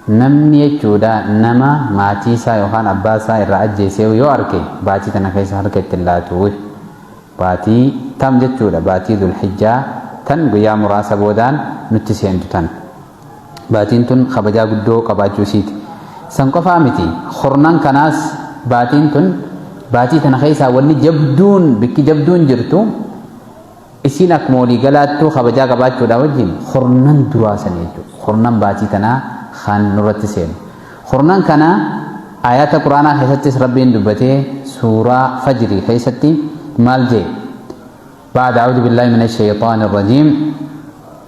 Namni jechuudha nama maatii isaa yookaan abbaa isaa irraa ajjeesee yoo arke baatii tana keessa harka itti hin laatu. Baatii tam jechuudha baatii Zulhijjaa tan guyyaa muraasa boodaan nutti seentu tan. Baatiin tun kabajaa guddoo qabaachuu isiiti. San qofaa miti kurnan kanaas baatiin tun baatii tana keessaa wanni jabduun bikki jabduun jirtu Isiin akkuma walii galaattuu kabajaa qabaachuudhaa wajjin kurnan duraa san jechuudha. Kurnan baatii tanaa kan nurratti seenu. Kurnan kana aayaata quraanaa keessattis rabbiin dubbatee suuraa fajrii keessatti maal jee? Ba'da a'uudu billaahi mina shayxaani rajiim.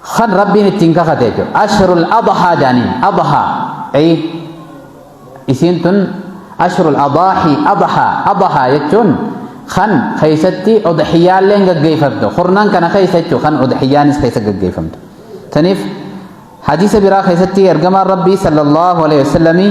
Kan Rabbiin ittiin kakate jechuudha. Ashrul adhaa jaaniin. Adhaa. Ayi. Isiin tun ashrul adaahi adhaa. Adhaa jechuun kan keessatti udhiyaalleen gaggeeffamtu. Kurnan kana keessa jechuudha kan udhiyaanis keessa gaggeeffamtu. Taniif hadiisa biraa keessatti ergamaan Rabbii sallallahu alaihi wasallamii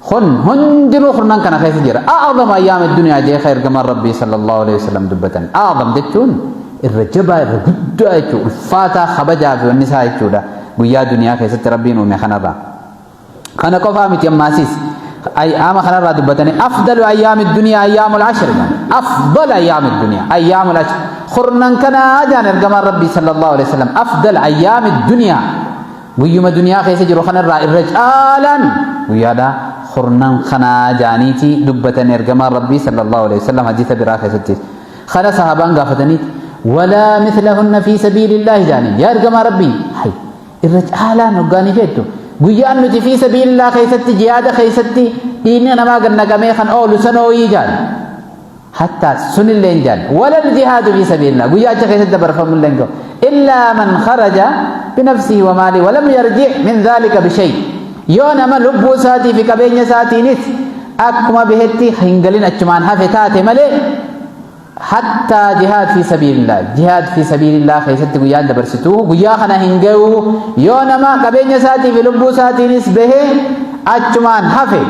kun hundinuu kurnan kana keessa jira a'zam ayyaam addunyaa jee ka ergamaan rabbii sallallahu alaihi wasallam dubbatan a'zam jechuun irra jabaa irra guddaa jechuudha ulfaataa kabajaa fi wanni isaa jechuudha guyyaa duniyaa keessatti rabbiin uume kanarraa kana qofaa miti ammaasiis ayyaama kanarraa dubbatanii afdalu ayyaami duniyaa ayyaamul ashri afdal ayyaami duniyaa ayyaamul ashri kurnan kanaa jaan ergamaan rabbii sallallahu alaihi wasallam afdal ayyaami duniyaa Guyyuma duniyaa keessa jiru kanarraa irra caalaan guyyaadha kurnan kanaa jaaniiti dubbatan ergamaan rabbii sallallahu alaihi wasallam hadiisa biraa keessatti kana sahaabaan gaafatanii walaa mislahunna fi sabiilillaahi jaaniin yaa ergamaa rabbii hay irra caalaan hoggaanii feettu guyyaan nuti fi sabiilillaa keessatti jihaada keessatti dhiigni namaa gannaqamee kan oolu sanooyii jaaniin hattaa sunillee hin jaalle walal jihaadu fi sabiilillah guyyaa achi keessatti dabarfamu illee hin gahu illaa man kharaja binafsihi wa maali walam yarji min dhaalika bishay yoo nama lubbuu isaatii fi qabeenya isaatiinis akkuma bahetti hin galin achumaan hafe taate malee hattaa jihaad fi sabiilillah jihaad fi sabiilillah keessatti guyyaan dabarsitu guyyaa kana hin gahu yoo nama qabeenya isaatii fi lubbuu isaatiinis bahee achumaan hafe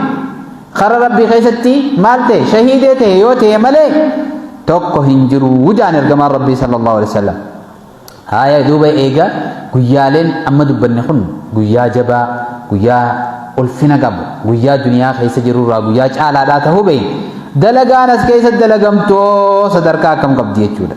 kara rabbii keessatti maal ta'e shahiidee ta'e yoo ta'e malee tokko hin jiru wujaan ergamaan rabbii sallallahu alaihi wasallam haaya duuba eega guyyaaleen amma dubbanne kun guyyaa jabaa guyyaa ulfina qabu guyyaa duniyaa keessa jirurraa guyyaa caalaadhaa ta'uu beekna dalagaan as keessa dalagamtoo sadarkaa akkam qabdi jechuudha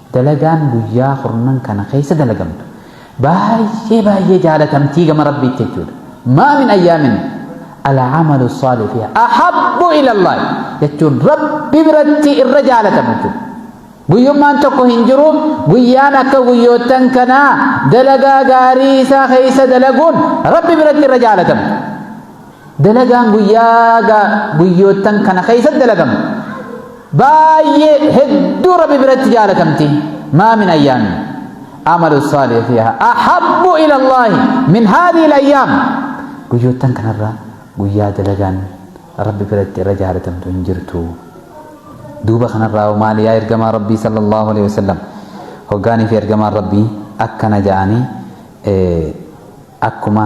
Dalagaan guyyaa kurnan kana keessa dalagamtu baay'ee baay'ee jaalatamtii gama Rabbiitti jechuudha. Maa min ayyaamin al'amalu saalih fiha ahabbu ila Allah jechuun Rabbi biratti irra jaalatamu jechuudha. Guyyummaan tokko hin jiru guyyaan akka guyyoottan kanaa dalagaa gaarii isaa keessa dalaguun Rabbi biratti irra jaalatamu. Dalagaan guyyaa gaa guyyoottan kana keessatti dalagamu baay'ee hedduu rabbi biratti jaalatamti maa min ayyaami amalu saalih fiha ahabbu ila allahi min haadhihi alayyaam guyyoottan kanarraa guyyaa dalagaan rabbi biratti irra jaalatamtu hin jirtu duuba kanarraa maali yaa ergamaa rabbii sallallahu alaihi wasallam hoggaanii fi ergamaan rabbii akkana ja'anii akkuma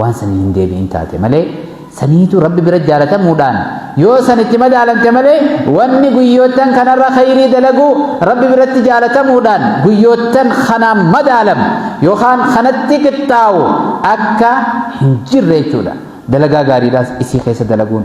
waan sanii hin deebi'in taate malee saniitu rabbi bira jaalatamuudhaan yoo san itti madaalante malee wanni guyyoottan kanarra khayrii dalaguu rabbi biratti jaalatamuudhaan guyyoottan kanaan madaalamu yookaan kanatti qixxaawu akka hin jirre jechuudha dalagaa gaariidhaas isii keessa dalaguun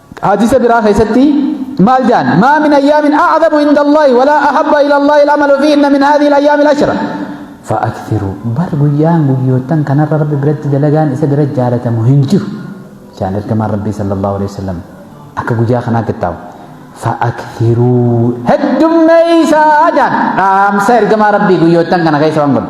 Hadiisa biraa keessatti maal jaan maa min ayyaamin a'zamu inda Allahi walaa ahabba ila Allahi al'amalu fiihinna min haadhihi al-ayyaami al-ashra fa'aktiru bar guyyaan guyyoottan kanarra rabbi biratti dalagaan isa bira jaalatamu hin jiru jaan ergamaan rabbii sallallahu alaihi wasallam akka guyyaa kanaa kittaawu fa'aktiruu heddummeeysaa jaan dhaamsa ergamaa rabbii guyyoottan kana keessa waan godhu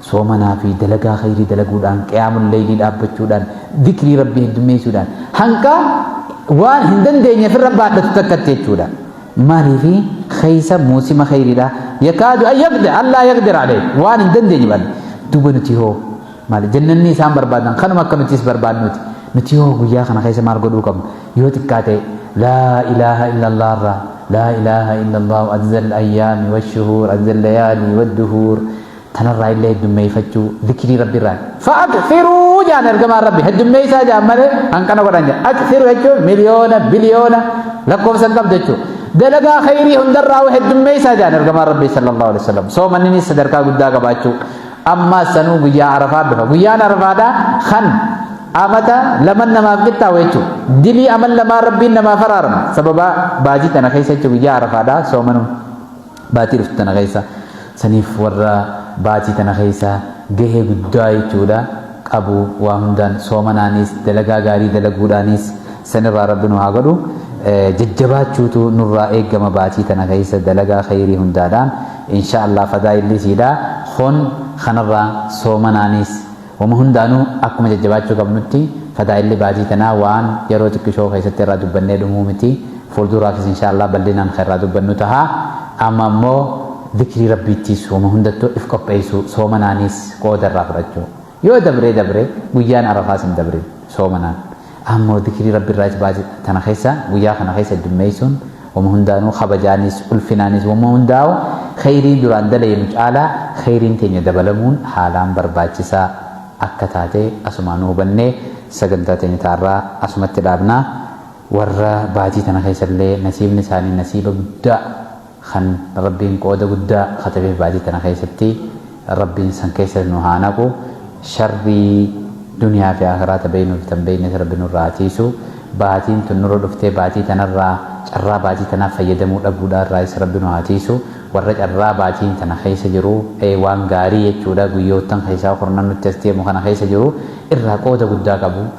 Soomanaa fi dalagaa khayrii dalaguudhaan, qiyaamul laylii dhaabbachuudhaan, dhikrii Rabbii heddummeessuudhaan hanga waan hin dandeenye ofirra baadhatu takkatti jechuudha. Maaliifi khaysa muusima khayriidha. Yakaadu an yaqdir, allaa yaqdir alayh. Waan hin dandeenye baadha. Duuba nuti hoo maali jannanni isaan barbaadan kanuma akka nutis barbaadnuuti. Nuti hoo guyyaa kana khaysa maal godhuu qabna? Yoo xiqqaate laa ilaaha illallah irraa laa ilaaha illallah adda al-ayyaami wa shuhuur adda al-layaali wa duhuur Tanarraa illee heddummeeyfachuu zikirii rabbi irraati. Fa'akfiruu jaan ergamaan rabbi heddummeeysaa jaan malee hanqana godhan jaan. Akfiru jechuun miliyoona, biliyoona lakkoofsa hin qabdu jechuudha. Dalagaa khayrii hundarraa heddummeeysaa jaan ergamaan rabbi sallallahu alaihi wasallam. Soomanninis sadarkaa guddaa qabaachuu. Ammaa sanuu guyyaa arafaa dhufa. Guyyaan arafaadhaa kan amata laman namaaf qixxaawu jechuudha. Dilii aman lamaa rabbiin namaaf araarama. Sababa baajii tana keessa jechuudha guyyaa arafaadhaa soomanuun. Baatii dhuftu tana keessa saniif warra baatii tana keessa gahee guddaa jechuudha qabu waa hundaan soomanaanis dalagaa gaarii dalaguudhaanis sanirraa rabbi nu haa godhu jajjabaachuutu nurraa eegama baatii tana keessa dalagaa khayrii hundaadhaan inshaa Allah fadaa illisiidha kun kanarraa soomanaanis Wama hundaanuu akkuma jajjabaachuu qabnutti fadaa'illi baatii tanaa waan yaroo xiqqishoo keessatti irraa dubbannee dhumuu miti fuulduuraafis inshaa allaah bal'inaan kan irraa dubbannu taha amma ammoo zikrii rabbiittiis wama hundattuu if qopheessuu soomanaaniis qooda irraa fudhachuu yoo dabree dabree guyyaan arafaas hin dabrin soomanaan Ammoo dikrii Rabbirraa is baase tana keessa guyyaa kana keessa heddummeessuun wama hundaanuu kabajaanis ulfinaanis wama hundaa'u kheyrii duraan dalaynu caalaa kheyriin teenya dabalamuun haalaan barbaachisaa akka taate asumaanuu hubannee sagantaa teenya taarraa asumatti dhaabna warra baatii tana keessallee nasiibni isaanii nasiiba guddaa Kan Rabbiin qooda guddaa katabeef baatii tana keessatti Rabbiin san keessa nu haa naqu. Sharrii duniyaa fi aakhiraa ta beeynuu fi ta hin beeynes Rabbi nurraa haa tiiysu. Baatiin tun nurra dhuftee baatii tanarraa carraa baatii tanaaf fayyadamuu dhabuudhaa irraayis Rabbi nu haa tiiysu. Warra carraa baatiin tana keessa jiru ee waan gaarii jechuudha guyyoottan keessaa kurnan nutti as deemu kana keessa jiru irraa qooda guddaa qabu.